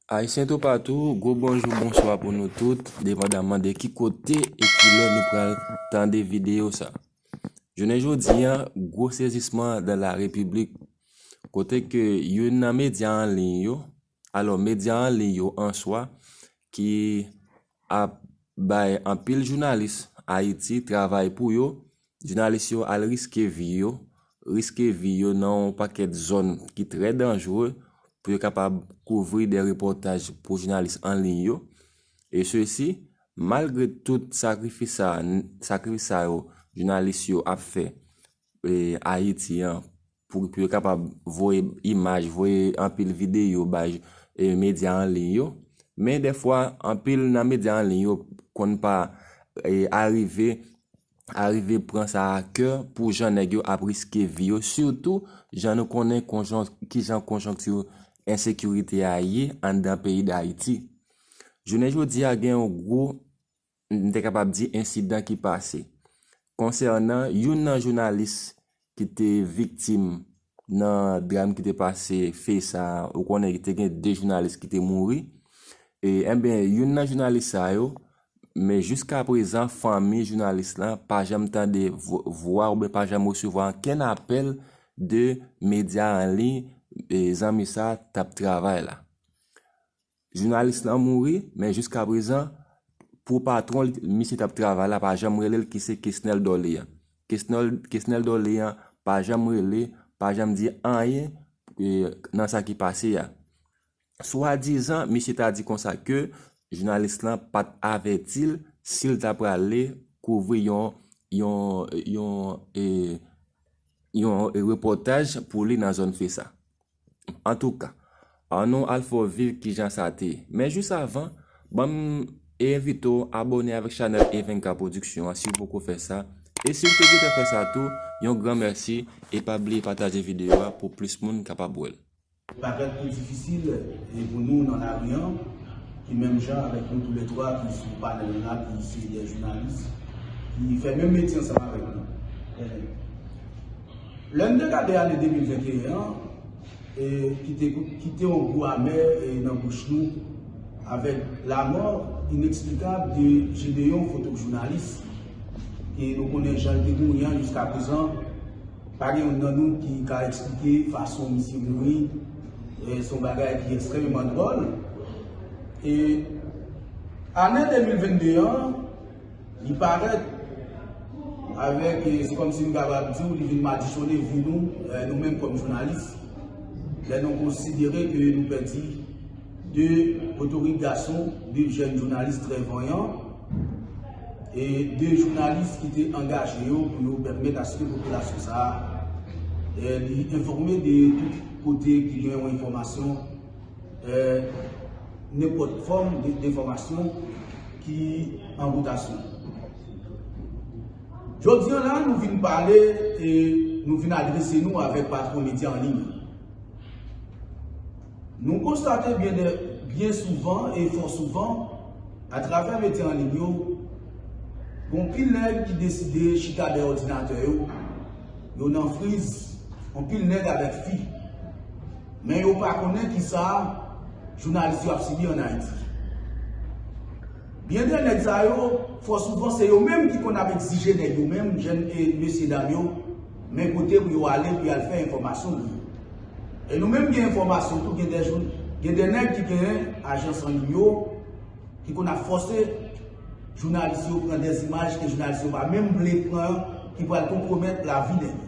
Ayisyen toupatou, gwo bonjou bonswa pou nou tout, depandaman de ki kote e ki lè nou pral tande videyo sa. Jounen jodi an, gwo sezisman dan la repiblik, kote ke youn nan medya an liy yo, Alò, medya an liy yo an swa ki ap bay anpil jounalis Ayiti travay pou yo, jounalis yo al riske vi yo, riske vi yo nan yon pakèt zòn ki trè danjre pou yo kapab kouvri de repòtaj pou jounalis an liy yo. E sesi, malgre tout sakrifis sa, sakrifis sa yo jounalis yo ap fè Ayiti an Pou yo kapab voye imaj, voye anpil videyo bay medya an liy yo. Men dèfwa, anpil nan medya an liy yo konn pa arive, arive pran sa a kè pou jan nèg yo ap riske vi yo. Sitou, jan nou konnen ki jan konjonkti ensekirite a ye anndan peyi Dayiti. Jounen jodi a gen yon gwo m te kapab di ensidan ki pase konsènan youn nan jounalis ki te viktim nan dram ki te pase Fe sa, ou konnen te gen 2 jounalis ki te mouri, e enben youn nan jounalis sa yo, men jiska prezan fanmi jounalis la pa janm tande vwa oubyen pa janm resevwa ankenn apèl de medya an liy zanmi sa t ap travay la. Jounalis lan mouri, men jiskaprezan, pou patwon li, misye t ap travay la pa janm rele l ki se Kesnel Dorlean. Kesnel, Kesnel Dorlean pa janm rele, pa janm di anyen nan sa ki pase a. Swadizan, misye ta di konsa ke jounalis lan pa t avèti l si l ta prale kouvri yon, yon, yon, yon repòtaj pou li nan zòn Fesa. Antouka, an nou al fè w viv kijan sa te ye. Men jis avan, ban m e envite w abòne avèk chanèl Evenka Production an si w poko fè sa, e si w te gentan fè sa tou, yon gran mèsi e pa bliye pataje videyo a pou plis moun kapab wè l. Bagay ki difisil pou nou nan lari an, ki menm jan avèk nou tou lè twa ki sou panèl la ki se dè jounalis, ki fè menm metye ansanm avèk nou. Lè m te gade ane 2021 an ki te kite yon gou amè nan bouch nou avèk lamò ineksplikab de Gédéon fotokjounalis ke nou konnen jan l te mouri an jiskaprezan pa gen youn nan nou ki ka eksplike fason misye mouri se yon bagay ki ekstrèmeman dwòl e ane 2022 an Li parèt avèk, se kòm si m kapab di w, li vin madichone vi nou, nou menm kòm jounalis. Lè nou konsidere ke nou pèdi 2 potorik gason, 2 jèn jounalis trè vanyan, e 2 jounalis ki te angaje yo pou yo pèmèt aske popilasyon sa a li enfòme de tout kote ki gen yon enfòmasyon. nenpòt fòm defomasyon ki an wotasyon. Jodi an la, nou vin pale e nou vin adrese nou avèk patwon medya an liy. Nou konstate byen souvan e fò souvan, atravè medya an liy yo, gon pil nèg ki deside chita dèyè òdinatè yo, Yo nan friz, anpil nèg avèk fi. Men yo pa konnen kisa jounalis yo ap sibi an Ayiti. Byen de nèg sa yo, fò souvan se yo menm ki konn ap egzije nèg yo menm, jèn e mesye dam yo, men kote pou yo ale pou y al fè enfòmasyon yo. E nou menm gen enfòmasyon tou, gen de nèg ki gen ajans anliy yo, ki konn ap fòse jounalis yo pran dè imaj ke jounalis yo pa menm vle pran ki pral konpwomèt lavi nèg yo.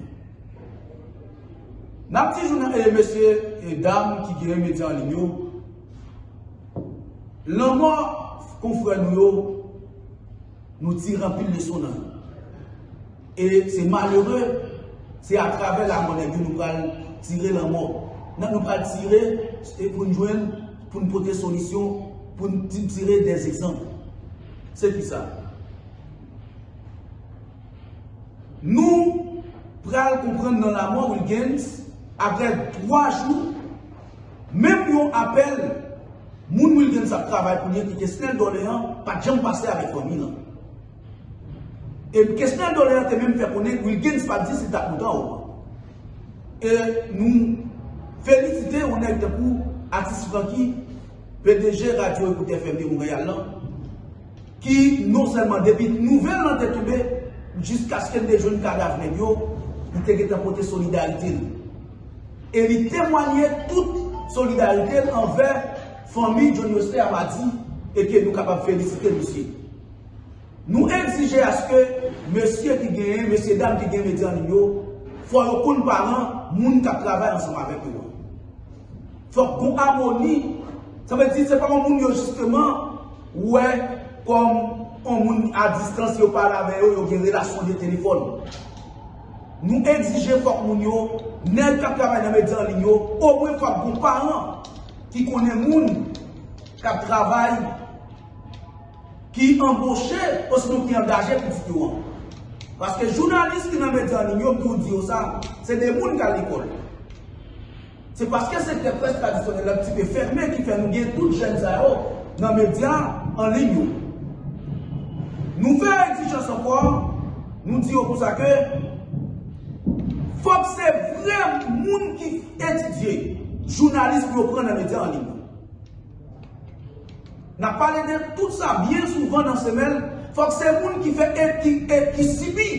N ap di jounal, mesye e dam ki gere medya an liy yo, lanmò konfrè nou yo, nou tire anpil leson nan yo. E se malere, se a travè la mò nèg yo nou pral tire la mò. Nan nou pral tire, se pou n jwenn, pou n pote solisyon, pou n tire dè zezanp. Se ki sa? Nou pral konprann nan la mò Wilgens, apre 3 jou, menm yon apèl, moun Wilgens ap travay pou li an ki te Snèl Dòleyan, pa t janm pase avèk fanmi l an. E Kesnel Doléan te menm fè konnen Wilguens pa t di si l t ap monte an oman. E nou felisite yon nèg tankou atis Francky, pdg radyo Ecoute FM de Montréal lan, ki non sèlman depi nouvèl lan te tonbe jiskaske n te jwenn kadav nèg yo, li te gentan pote solidarite l. E li temwanye tout solidarite l anvè fanmi John Wesley Amady e ke nou kapab felisite misye. Nou egzije aske mesye ki gen, mesye dam ki gen medya nou yo, fò yo konn paran moun k ap travay ansanm avèk yo an. Fòk gon amoni, sa vle di se pa yon moun yo jisteman wè kòm yon moun a distans yo pale avè yo, yo gen relasyon de telefòn. Nou egzije fòk moun yo, nèg k ap travay nan medya anliy yo, omwen fòk gon paran ki konnen moun k ap travay. ki anboche osinon ki angaje pou videyo an. Paske jounalis ki nan medya anliy yo ki ou di yo sa, se de moun ki al lekòl. Se paske sektè près tradisyonèl la ki te fèmen ki fè nou gen tout jèn sa yo nan medya anliy yo. Nou fè egzijans ankò, nou di yo konsa ke fòk se vrè moun ki etidye jounalis pou yo pran nan medya anliy yo. N ap pale de tout sa byen souvan nan semèn, fòk se moun ki fè etid e ki sibi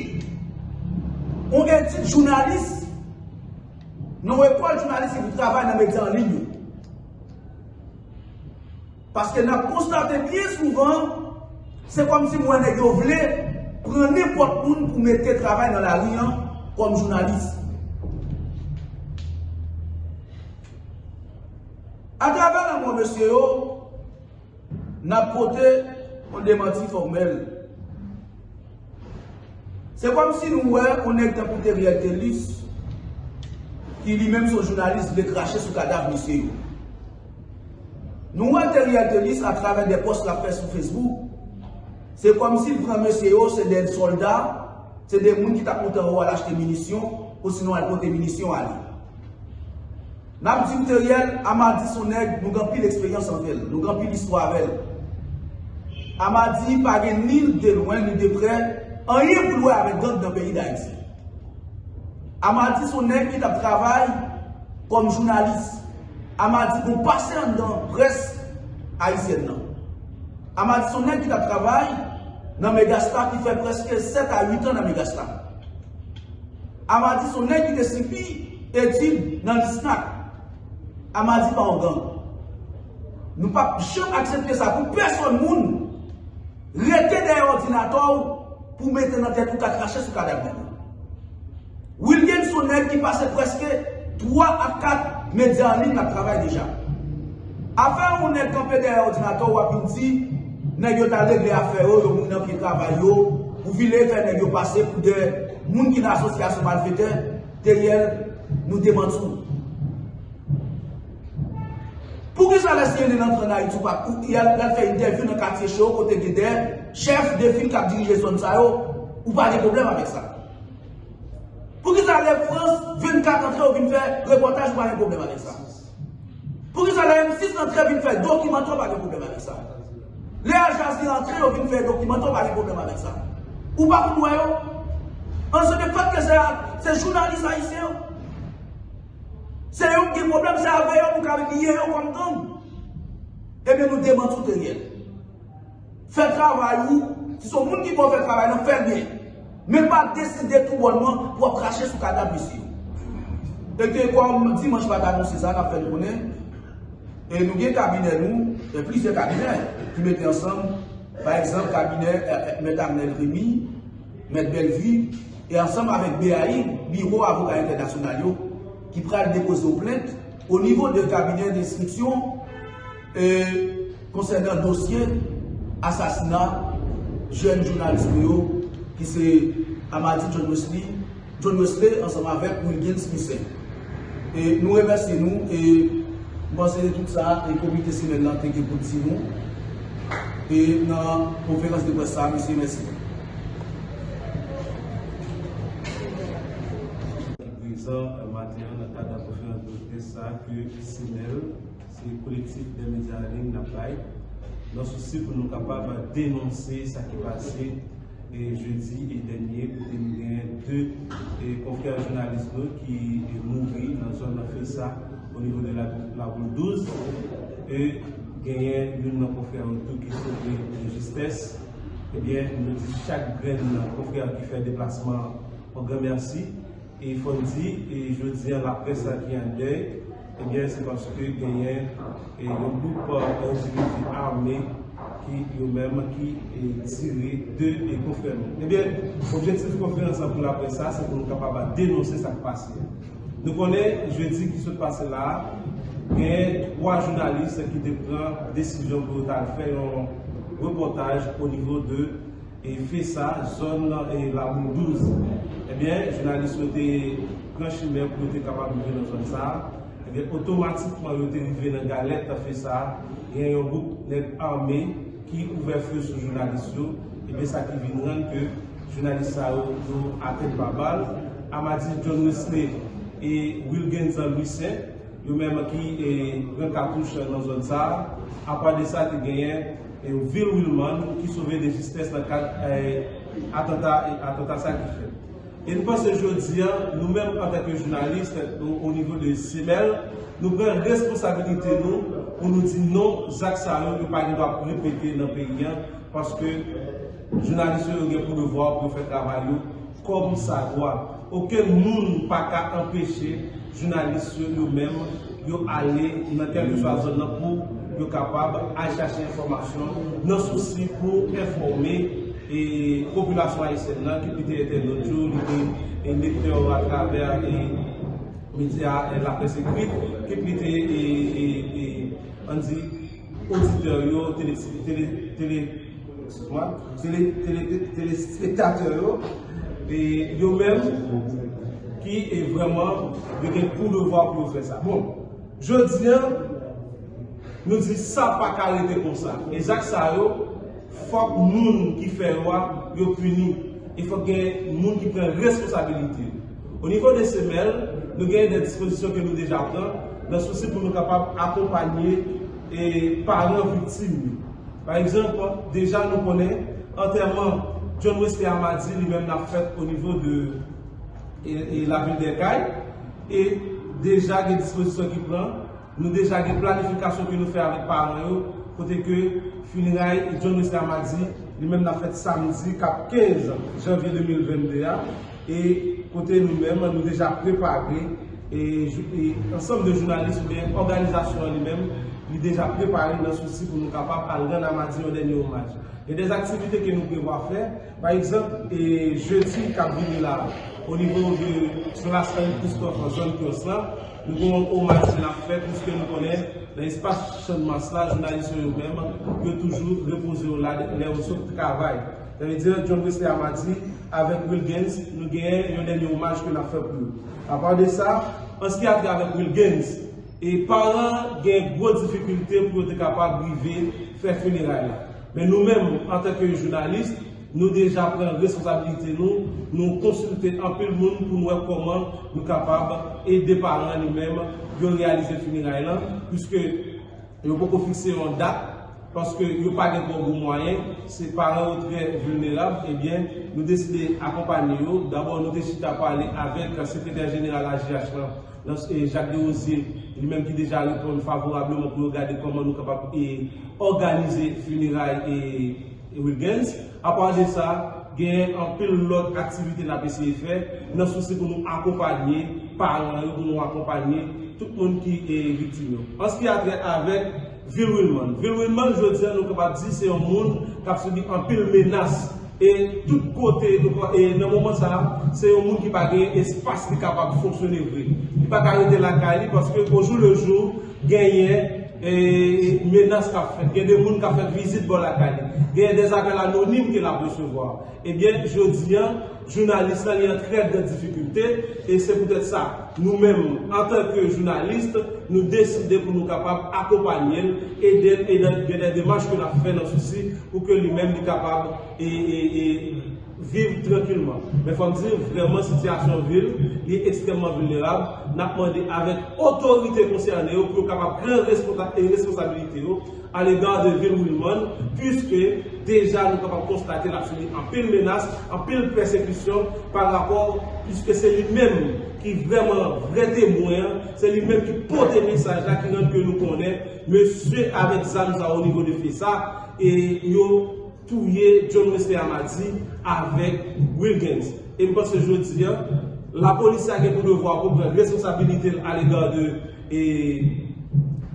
yon etid jounalis nan yon ekòl jounalis epi travay nan medya an liy yo. Paske n ap konstate byen souvan, se kòmsi m wè nèg yo vle pran nenpòt moun pou mete travay nan lari an kòm jounalis. Atravè lanmò mesye yo, n ap pote yon demanti fòmèl. Se kòmsi nou wè yon nèg tankou Theriel Thelus, ki li menm se yon jounalis, vle krache sou kadav mesye yo. Nou wè Theriel Thelus atravè de pòs l ap fè sou Facebook, se kòmsi l pran mesye yo se de sòlda, se de moun ki t ap monte anwo al achte minisyon, osinon al pote minisyon ale. Nap di Theriel Amady son nèg nou gen anpil eksperyans avèl, nou gen anpil istwa avèl. Amady pa gen ni de lwen ni de prè anyen pou l wè avèk gang nan peyi Dayiti. Amady son nèg ki tap travay kòm jounalis. Amady gon pase anndan près ayisyèn nan. Amady son nèg ki tap travay nan Megastar ki fè prèske 7 a 8 an nan Megastar. Amadi son nèg ki te sifi etid nan Lisnac. Amadi pa yon gang. Nou pap janm aksepte sa pou pèsòn moun. Rete dèyè òdinatè w pou mete nan tèt ou ka krache sou kadav nèg la. Wilguens son nèg ki pase prèske 3 a 4 medya anliy lap travay deja. Afè yon nèg kanpe dèyè òdinatè w wap vin di nèg yo tal regle afè yo, yo moun nan pye travay yo, pou vile fè nèg yo pase pou 2. Moun ki nan asosyasyon malfetè dèyè l nou te manti w. Poukisa lè cnn antre an Ayiti ou pa ou y al fè entèvyou nan katye cho kote gen dè chèf de fil kap dirije zòn sa yo ou pa gen pwoblèm avèk sa? Poukisa lè frans 24 antre ou vin fè repòtaj ou pa gen pwoblèm avèk sa? Poukisa lè M6 antre vin fè dokimantè w pa gen pwoblèm avèk sa? Lè Al Jazeera antre yo vin fè dokimantè w pa gen pwoblèm avèk sa? Ou pa konn wè yo? An se de fèt ke se a se jounalis ayisyen yo? Se yo k gen pwoblèm se avè yo nou ka liye yo kòm gang? Ebyen nou demanti w te riyèl. Fè travay ou, si son moun ki pou fè travay lan fèl byen. Men pa deside tou bònman pou ap krache sou kadav mesye yo. E ke kòm dimanch pa ta anonse sa, nap fè nou konnen, e nou gen kabinè nou, gen plizyè kabinè ki mete ansanm, pa egzanp kabinè mèt Amnel Remy, mèt Bellevue, e ansanm avèk BAI, Biwo Avoka Entènasyonal yo, ki pral depoze yon plent o nivo de kabinè de enstriksyon. E konsènan dosye asasina jèn jounalis nou yo ki se Amady John Wesley, John Wesley ansanm avèk Wilguens Misaint. E nou remèsye nou e m panse se tout sa e komite semèn lan te gen pou l di nou e nan konferans de près sa a. Mesye, mèsi. Ki prezan maten an nan kad konferans de près sa a ke semèn. Se Kolektif Dè Medya Anlim n ap bay, nan sousi pou nou kapab denonse sa ki pase jedi dènye kote nou gen 2 konfrè jounalis nou ki mouri nan zòn nan Fresa o nivo de Laboul 12 e genyen youn nan konfrè yo tou ki sove de jistès. Ebyen nou di chak grenn konfrè ki fè deplasman an yon gran mèsi. E fò n di, jodi an laprès la ki an dèy, ebyen se paske genyen yon gwoup endividi ame ki yo menm ki tire 2 konfrè nou. Ebyen, objektif konferans lan pou laprès sa, se pou nou kapab denonse sa k pase a. Nou konnen jedi ki sot pase la a, genyen 3 jounalis ki te pran desizyon pou yo t al fè yon repòtaj onivo de. Efe sa zòn laboul 12. Ebyen jounalis yo te pran chimen pou yo te kapab rive nan zòn sa. Ebyen otomatikman yo te rive nan galèt efe sa gen yon gwoup nèg ame ki ouvè few sou jounalis yo. Ebyen sa ki vin rann ke jounalis sa yo yo atenn pa bal. Amadi John Wesley e Wilgenzan Louissaint yo menm ki pran katouch nan zòn sa. Apa de sa te genyen. Vil Wilmàn ki sove de jistes nan kad atanta e atanta sa ki fèt. E n panse jodi a, nou menm antanke jounalis o nivo de CML, nou pran responsabilite nou pou nou di non zak sa yo yo pa gen dwa ap repete nan peyi a paske jounalis yo yo gen pou devwa pou yo fè travay yo. Kòm sa dwa. Okenn moun pa ka anpeche jounalis yo yo menm yo ale nan kèlkeswa zòn nan pou yo kapab al chache enfòmasyon nan sousi pou enfòme popilasyon ayisyèn nan ki pi te entènot yo, li te lektè yo atravè medya laprès ekrit, ki pi te ann di oditè yo, tele. Telespektatè yo, yo menm ki vreman yo gen pou devwa pou yo fè sa. Bon, jodi an, nou di sa pa ka rete konsa. E zak sa yo, fòk moun ki fè yo a, yo pini. E fòk gen moun ki pran responsabilite. O nivo de semèl, nou gen de dispozisyon ke nou deja pran, nan sousi pou nou kapab akonpanye paran viktim yo. Pa egzanp, deja nou konnen antèman John Wesley a madi li menm ap fèt onivo de lavil dè Kay e deja gen dispozisyon ki pran, nou deja gen planifikasyon ke nou fè avèk paran yo kote ke finiray John Wesley a madi li menm ap fèt samdi kap 15 janvye 2022 a. e kote nou menm nou deja prepare e ansanm de jounalis ou byen òganizasyon an li menm li deja prepare nan sousi pou nou kapab al rann Amadi yon dènye omaj. Gen dè aktivite ke nou prevwa fè, pa egzanp jedi kap vini la o nivo de plas Henri Christophe nan zòn Pyons la, nou gen yon omaj ke nap fè pwiske nou konnen nan espas Channmas la jounalis yo yo menm yo toujou repoze yo la lè yo sot travay. Sa vle di John Wesley Amadi. Avèk Wilguens, nou genyen yon dènye omaj ke n ap fè pou yo. Apa de sa, an s ki a trait avèk Wilguens, e paran gen gwo difikilte pou yo te kapab rive fè fineray la. Men nou menm, antanke jounalis, nou deja pran responsabilite nou, nou konsilte anpil moun pou n wè kòman nou kapab ede paran li menm yo reyalize fineray lan, puiske. Yo poko fikse yon dat paske yo pa gen twò gwo mwayen, se paran yo trè vilnerab, ebyen nou deside akonpanye yo, dabò nou te chita pale avèk sekretè jeneral AJH lan, Jacques Derosier, li menm ki deja reponn favorableman pou yo gade kòman nou kapab òganize fineray. Rubens, Apa de sa, genyen anpil lòt aktivite n ap eseye fè nan sousi pou nou akonpanye paran yo, pou nou akonpanye tout moun ki viktim yo. An s ki a trè avèk Vil Wilmann, Vil Wilmann jodi an nou kapab di se yon moun k ap sibi anpil menas e tout kote e nan moman sa a se yon moun ki pa genyen espas li kapab fonksyone vre. Li pa ka rete lakay li paske ojoulejou Genyen menas k ap fèt. Gen de moun k ap fè vizit bò lakay li. Genyen des apèl anonim ke l ap resevwa. Ebyen, jodi an, jounalis la li an trè gran difikilte e se poutèt sa, nou menm antan ke jounalis, nou deside pou nou kapab akonpanye l, ede l e gen dè demach ke n ap fè nan sousi pou ke li menm li kapab viv trankilman. Men fòm di vrèman sitiyasyon vil li ekstrèmman vilnerab, nap mande avèk otorite konsène yo pou yo kapab pran responsabilite yo alega de vil Wilmònn puiske deja nou kapab konstate lap sibi anpil menas, anpil pèsekisyon pa rapò puiske se li menm ki vrèman vrè temwen an, se li menm ki pote mesaj la ki rann ke nou konnen mesye avèk zam sa onivo de fsa e yo. touye John Wesley Amadi avèk Wilguens e m panse jodi an lapolis la gen pou devwa pou pran responsabilite l alega de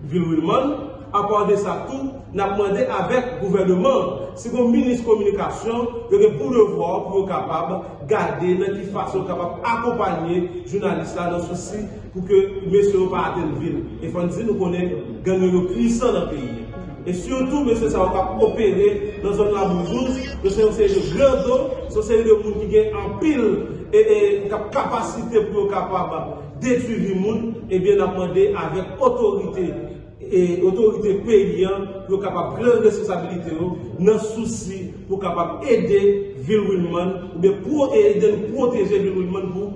vil Wilmàn apa de sa tou n ap mande avèk gouvèneman an si gon minis kominikasyon yo gen pou devwa pou yo kapab gade nan ki fason yo kapab akonpanye jounalis la nan sousi Pou ke mesye yo pa atenn vil. E fò n di nou konnen gang yo yo pwisan nan peyi. E sitou mesye sa yo k ap opere nan zòn Laboujouz, yo se yon seri de grando, se yon seri de moun ki gen anpil kapasite pou yo kapab detwi vi moun, ebyen n ap mande avèk otorite, otorite peyi an pou yo kapab pran responsabilite yo nan sousi pou kapab ede vil Wilmann, oubyen pou ede pwoteje vil Wilmann pou.